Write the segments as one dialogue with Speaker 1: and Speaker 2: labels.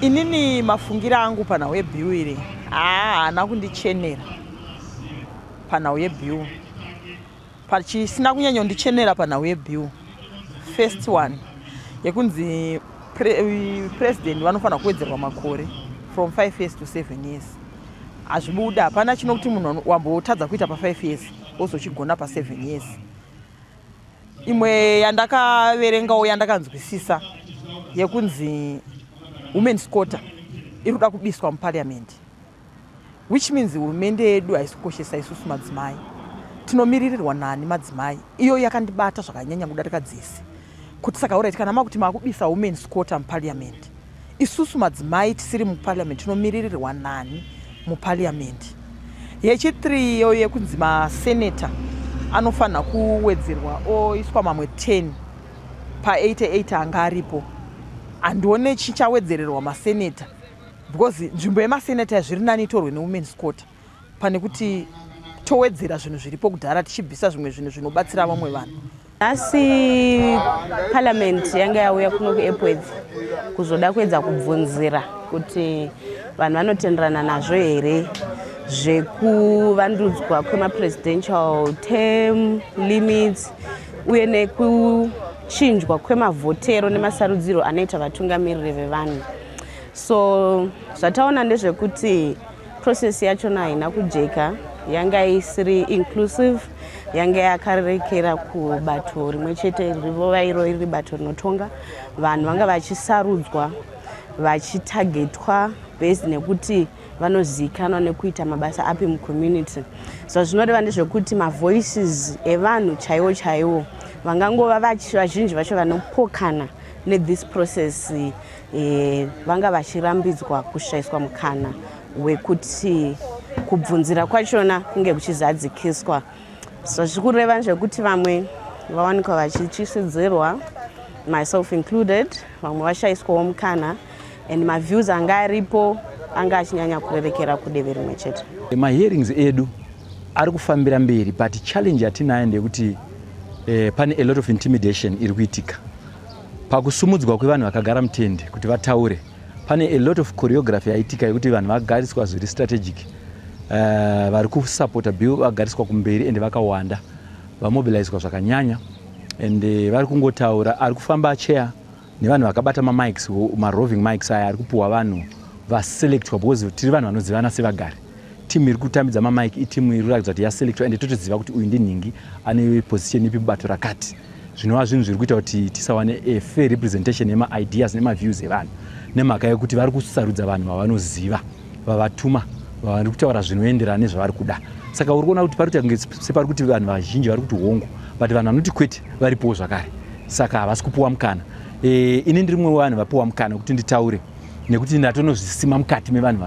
Speaker 1: inini mafungira angu panhau yebill iri haana kundichenera panhau yebill pachisina kunyanyondichenera panhau yebill first one yekunzi pre, president vanofanira kuwedzerwa makore from five years to seven years hazvibuda hapana chinokuti munhu wambotadza kuita pafive years ozochigona paseven years imwe yandakaverengawo yandakanzwisisa yekunzi women scotter iri kuda kubiswa muparliament which means hurumende yedu haisi kukoshesa isusu madzimai tinomiririrwa nani madzimai iyo yakandibata zvakanyanya kudarika dzese kuti saka urit kana makuti makubisa women scotter muparliament isusu madzimai tisiri muparliament tinomiririrwa nani muparliament yechithree iyo yekunzi maseneta anofanira kuwedzerwa oiswa mamwe 10 pa88 anga aripo handione chichawedzererwa maseneta because nzvimbo yemaseneta zviri nani itorwe newomens quarter pane kuti towedzera zvinhu zviripo kudhara tichibvisa zvimwe zvinhu zvinobatsira vamwe vanhu Nhasi
Speaker 2: parliament yanga yauya kuno kuEpworth kuzoda kuedza kubvunzira kuti vanhu vanotenderana nazvo here zvekuvandudzwa kwemapresidential term limits uye nekuchinjwa kwemavhotero nemasarudziro anoita vatungamiriri vevanhu so zvataona ndezvekuti Process yachona haina kujeka yanga isiri inclusive yanga yakarerekera kubato rimwe chete rivova iro riri bato rinotonga vanhu vanga vachisarudzwa vachitagetwa based nekuti vanozivikanwa nekuita mabasa api mucommunity so zvinoreva ndezvekuti mavoices evanhu chaiwo chaiwo vangangova vazhinji vacho vanopokana nethis process e, vanga vachirambidzwa kushaiswa mukana wekuti kubvunzira kwachona kunge kuchizadzikiswa so zviri kureva zvekuti vamwe vawanikwa vachityisidzirwa myself included vamwe vashaiswawo mukana and maviews anga aripo anga achinyanya kurerekera kudeve rimwe chete mahearings edu
Speaker 3: ari kufambira mberi but challenge yatinayo ndeyekuti eh, pane a lot of intimidation iri kuitika Pakusumudzwa kwevanhu vakagara mutende kuti vataure, pane a lot of choreography yaitika yekuti vanhu vagariswa zviri strategic. Uh, vari kusupporta bill vagariswa kumberi ende vakawanda vamobilizwa zvakanyanya and eh, vari kungotaura ari kufamba chair nevanhu vakabata mamics maroving mics aya ari kupuhwa vanhu vaselectwa because tiri vanhu vanozivana sevagari Team iri kutambidza ma mic iteam iri kuratidza kuti yaselectwa ende totoziva kuti uyu ndinhingi ane position ipi mubato rakati zvinova zvinhu zviri kuita kuti tisawane a fair representation yema ideas nema views evanhu nemhaka yekuti vari kusarudza vanhu vavanoziva vavatuma vavari kutaura zvinoenderana nezvavari kuda saka uri kuona kuti pari kuita kunge separi kuti vanhu vazhinji vari kuti hongu but vanhu vanoti kwete varipowo zvakare saka havasi kupuwa mukana e, ini ndiri mumwe wevanhu vapuwa mukana wekuti nditaure nekuti ndatonozvisima mukati mevanhu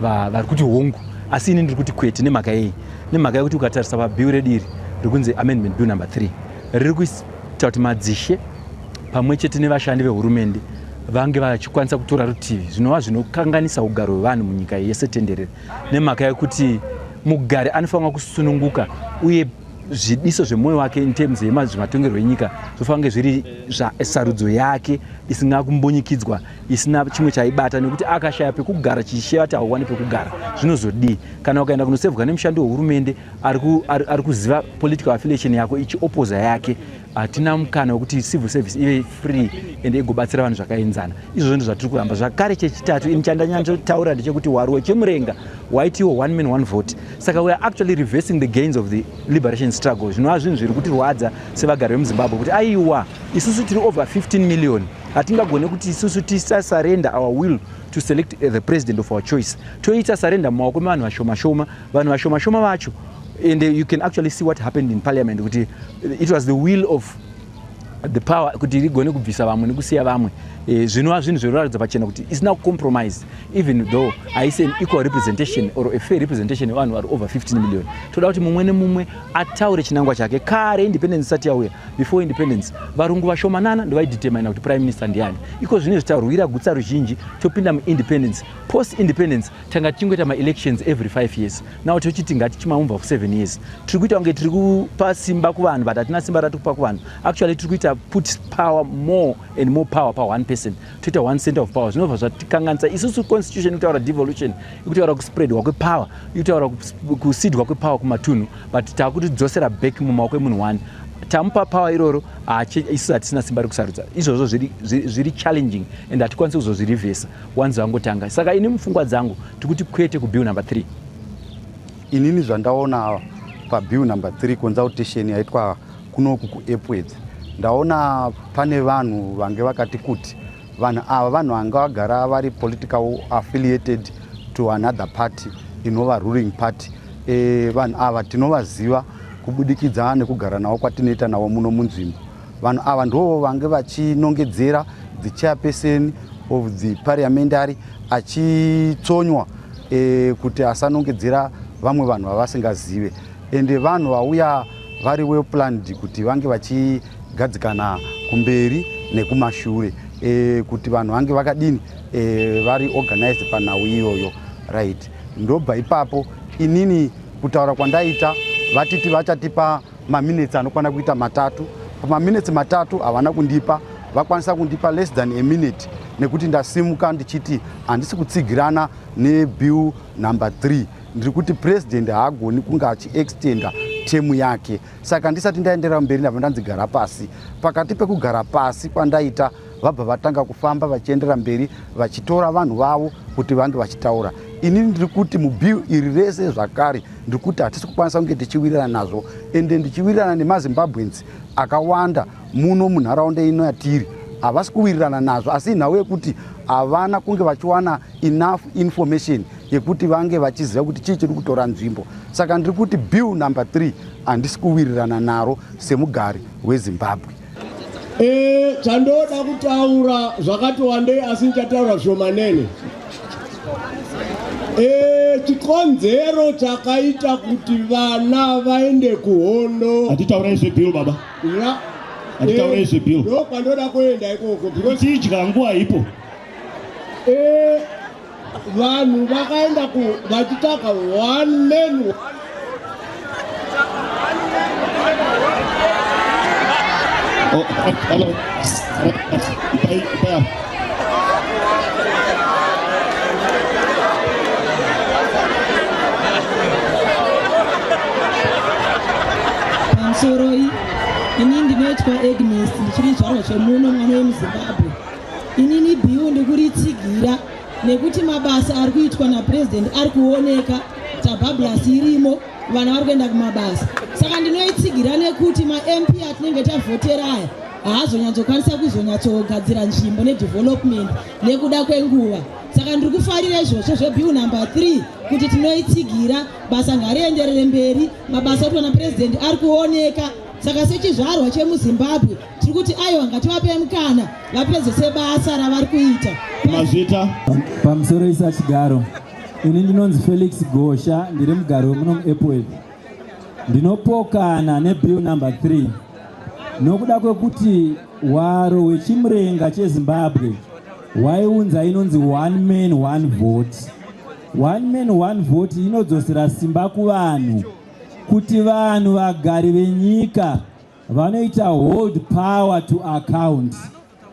Speaker 3: vari kuti hongu asi ini ndiri kuti kwete nemhaka yei nemhaka yekuti ukatarisa pabill redu iri riri kunzi amendment bill number three riri kuita kuti madzishe pamwe chete nevashandi vehurumende vange vachikwanisa kutora rutivi zvinova zvinokanganisa ugaro hwevanhu munyika yese tenderere nemhaka yekuti mugari anofanira kusununguka uye zvidiso zvemoyo wake in terms yemazvimatongerwo enyika zvofanira kunge zviri sarudzo yake isina kumbunyikidzwa isina chimwe chaibata nekuti akashaya pekugara chichisheva kuti hauwani pekugara zvinozodii kana ukaenda kunosevwa nemushandi wehurumende ari kuziva political affiliation yako ichiopoza yake hatina mukana wekuti civil service ive free ende igobatsira vanhu zvakaenzana izvozvo ndo zvatiri kuramba zvakare chechitatu ini chandanyatsotaura ndechekuti hwari wechemurenga waitiwo one man one vote saka weare actually reversing the gains of the liberation struggle zvinova zvinhu zviri kutirwadza sevagari vemuzimbabwe kuti aiwa isusu tiri over 15 million hatingagone kuti isusu tisasarenda our will to select eh, the president of our choice toita sarenda mumaoko mevanhu vashomashoma vanhu vashomashoma vacho and eh, you can actually see what happened in parliament kuti it was the will of the power kuti rigone kubvisa vamwe nekusiya vamwe eh, zvinova zvinhu zvinoratidza pachena kuti isina kucompromise even though haisi an equal representation or a fair representation yevanhu vari over 15 million toda kuti mumwe nemumwe ataure chinangwa chake kare independence isati yauya before independence varungu vashomanana ndovaidetermina kuti prime minister ndiani iko zvine zvitaurwira gutsa ruzhinji topinda muindependence post independence tanga tichingoita maelections every five years now tochiti ngatichimaumva for seven years tiri kuita kunge tiri kupa simba kuvanhu but hatina simba ratiri kupa kuvanhu actually tiri kuita put power more and more power pa one person toita one center of power zvinobva zvatikanganisa isusu constitution ikutaura devolution ikutaura kuspreadwa kwepower ikutaura kusidwa kwepower kumatunhu but takutidzosera back mumaoko emunhu one tamupa power iroro isu hatisina simba rekusarudza izvozvo zviri challenging and hatikwanisi kuzozvirivhesa wanzi vangotanga saka ini mupfungwa dzangu tikuti kwete kubill number three
Speaker 4: inini zvandaona ava pabill number three consultation yaitwa kunoku kuepwedz ndaona pane vanhu vange vakati kuti vanhu ava vanhu vanga vagara vari political affiliated to another party inova ruling party e, vanhu ava tinovaziva kubudikidza nekugara navo kwatinoita navo muno munzvimbo Vanhu ava ndivo vange vachinongedzera the chairperson of the parliamentary achitsonywa e, kuti asanongedzera vamwe vanhu vavasingazive ende vanhu vauya vari well planned kuti vange vachigadzikana kumberi nekumashure e, kuti vanhu vange vakadini e, vari organized panhau iyoyo right ndobva ipapo inini kutaura kwandaita vatiti vachatipa maminetsi anokwana kuita matatu pamaminetsi matatu havana kundipa vakwanisa kundipa less than a minute nekuti ndasimuka ndichiti handisi kutsigirana nebill number 3 ndiri kuti president haagoni kunge achiextenda temu yake saka ndisati ndaenderera mberi ndava ndanzi gara pasi pakati pekugara pasi kwandaita vabva vatanga kufamba vachiendera mberi vachitora vanhu vavo kuti vange vachitaura ini ndiri kuti mubiu iri rese zvakare ndiri kuti hatisi kukwanisa kunge tichiwirirana nazvo ende ndichiwirirana nemazimbabweans akawanda muno munharaunda ino yatiri havasi kuwirirana nazvo asi inhau yekuti havana kunge vachiwana enough information yekuti vange vachiziva kuti chii chiri kutora nzvimbo saka ndiri kuti bill number three handisi kuwirirana naro semugari wezimbabwe Eh, chandoda
Speaker 5: kutaura zvakati wandei asi ndichataura zvomanene. Eh, chikonzero chakaita kuti vana vaende kuhondo. Hatitaura izvi bill
Speaker 6: baba. Ra Hatitaura izvi bill. Ndo kwandoda kuenda
Speaker 5: ikoko because Tidya nguva ipo.
Speaker 6: eh
Speaker 5: vanhu vakaenda ku vachitsvaga one man Oh,
Speaker 6: hello. Bye, bye.
Speaker 7: pamusoroi ini ndinoitwa agnes ndichiri zvaro zvemuno mwana wemuzimbabwe inini biu ndikuritsigira nekuti mabasa ari kuitwa napurezidendi ari kuoneka tabablas irimo vana vari kuenda kumabasa saka ndinoitsigira nekuti mamp atinenge tavhotera aya haazonyatsokwanisa kuzonyatsogadzira nzvimbo nedevelopment nekuda kwenguva saka ndiri kufarira izvozvo zvebiu number 3 kuti tinoitsigira basa ngarienderere mberi mabasa oti vana purezidendi ari kuoneka saka sechizvarwa chemuzimbabwe tiri kuti aiwa ngativape mukana vapedzese basa ravari kuita mazvita
Speaker 6: pamusoro
Speaker 8: isa chigaro ini ndinonzi felix gosha ndiri mugari wemuno muepwel ndinopokana nebill number 3 nokuda kwekuti hwaro hwechimurenga chezimbabwe hwaiunza inonzi one man one vote one man one vote inodzosera simba kuvanhu kuti vanhu vagari venyika Vanoita hold power to account.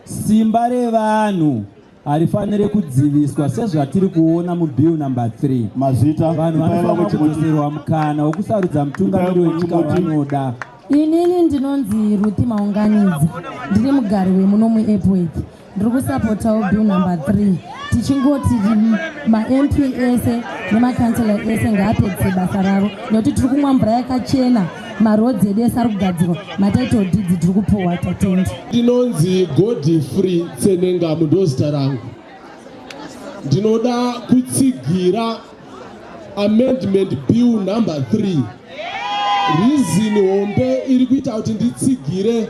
Speaker 8: Simba revanhu harifanire kudziviswa sezvatiri kuona mubill number 3 mazita vanhu vanofanira kudzoserwa mukana wokusarudza mutungamiri wenyika vanoda inini
Speaker 9: ndinonzi ruthi maunganidzi ndiri mugari wemuno muepworth ndiri kusapotawo bill number three tichingoti mamp ese nemakansela ese ngaapedzise basa ravo nekuti tiri kumwa mvura yakachena marodzi edu ese ari kugadzirwa matitle deeds tiri kupuhwa tatendi ndinonzi
Speaker 5: godi free tsenengamu ndozita rangu ndinoda kutsigira amendment bill number 3 rizini hombe iri kuita kuti nditsigire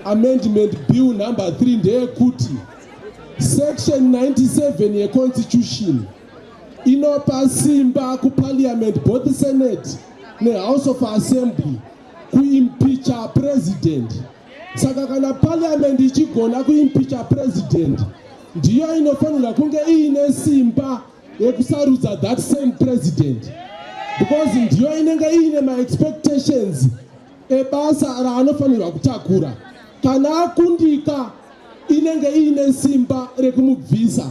Speaker 5: amendment bill number 3 ndeyekuti section 97 yeconstitution inopa simba kuparliament both senate nehouse of assembly kuimpicha president saka kana parliament ichigona kuimpicha president ndiyo inofanirwa kunge iine simba yekusarudza that same president because ndiyo inenge iine maexpectations ebasa raanofanirwa kutakura kana akundika inenge iine simba rekumubvisa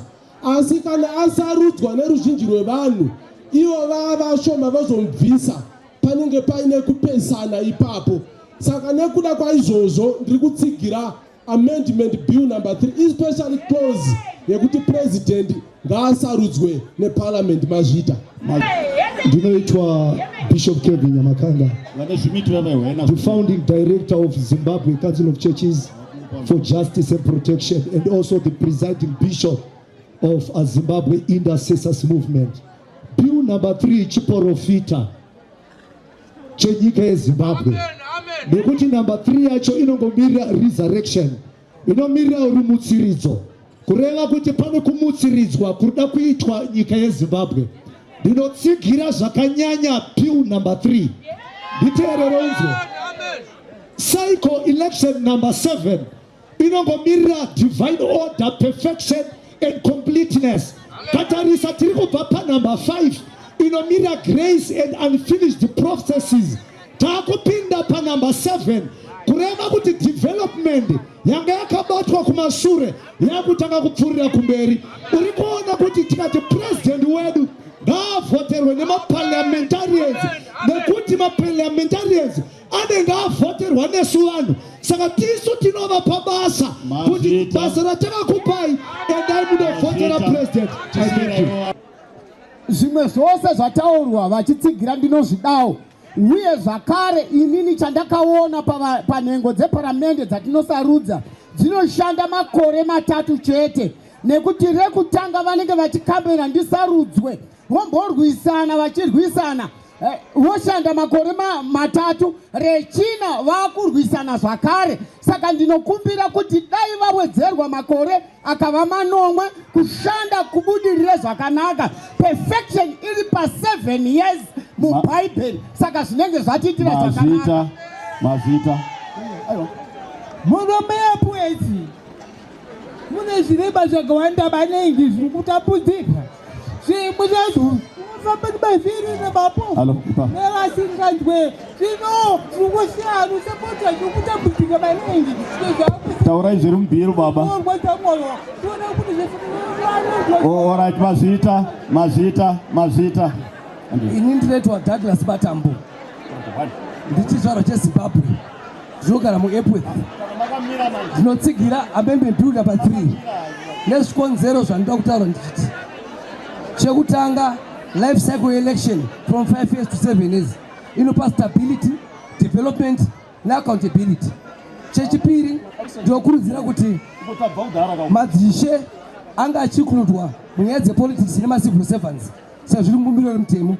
Speaker 5: asi kana asarudzwa neruzhinji rwevanhu ivo vava shoma vazomubvisa panenge paine kupesana ipapo saka nekuda kwaizvozvo ndiri kutsigira Amendment Bill number 3 especially clause yekuti president ngaasarudzwe neparliament mazvita ndinoitwa
Speaker 10: bishop kevin nyamakanda the founding director of zimbabwe council of churches for justice and protection and also the presiding bishop of a zimbabwe intercessors movement bill number 3 chiporofita chenyika yezimbabwe nekuti number three yacho inongomirira resurrection inomirira uri mutsiridzo kureva kuti pane kumutsiridzwa kuda kuitwa nyika yezimbabwe ndinotsigira zvakanyanya pill number three nditeerere unzwe cycle election number seven inongomirira divine order perfection and completeness katarisa tiri kubva panumber 5 inomirira grace and unfinished processes taakupinda panumber 7 kureva kuti development yanga yakabatwa kumashure yakutanga kupfuurira kumberi uri kuona kuti tikati president wedu ngaavhoterwe nemaparliamentarians nekuti maparliamentarians anenge avhoterwa nesu vanhu saka tisu tinovapa basa kuti basa ratakakupai endai munovhotera president
Speaker 11: zvimwe zvose zvataurwa vachitsigira ndinozvidawo uye zvakare inini chandakaona panhengo dzeparamende dzatinosarudza dzinoshanda makore matatu chete nekuti rekutanga vanenge vachikambena ndisarudzwe vomborwisana vachirwisana eh, voshanda makore matatu rechina vakurwisana zvakare saka ndinokumbira kuti dai vawedzerwa makore akava manomwe kushanda kubudirire zvakanaka perfection iri paseven years mubhaibheri saka zvinenge zvatiitira zvakanaka mazita muromeapuesi mune zvirema zvakawanda maningi zviri kutambudzika zvimwe zvazvo famba nemavhiri nemapofu nevasinganzwe zvino zviri kusiyana usapota zviri kutambudzika maningi taurai
Speaker 6: zviri mubhiru baba orit mazvita mazvita mazvita ini
Speaker 11: ndinoitwa douglas matambo ndichizvarwa chezimbabwe Zvinogara muEpworth zvinotsigira amembe builder pa 3 nezvikonzero zvandinoda kutaura ndichiti chekutanga life cycle election from 5 years to 7 years inopa stability development neaccountability chechipiri ndinokurudzira kuti madzishe anga achikuludwa munyaya dzepolitics nemacivil servants sezviri mubumbiro remutemo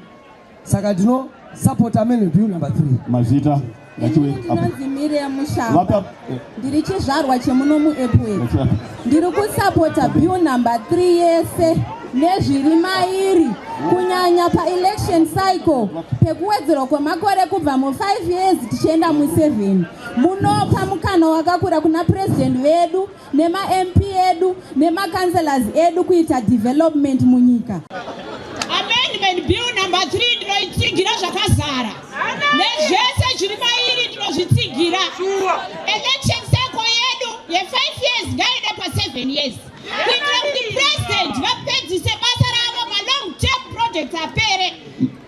Speaker 11: saka ndino support amene bill number 3 mazita
Speaker 12: ndiri chizvarwa chemuno muepway ndiri kusapota bill number 3 yese nezviri mairi kunyanya paelection cycle pekuwedzerwa kwemakore kubva mu 5 years tichienda mu 7 munopa mukana wakakura kuna purezidenti vedu nemamp edu nemacounselors edu kuita development munyika amendment
Speaker 13: bill number 3 ndinoitsigira zvakazara nezvese zviri mairi ndinozvitsigira election cycle yedu ye5 years ngaida pa7 years kuitira kuti president vapedzise basa ravo malong term projects apere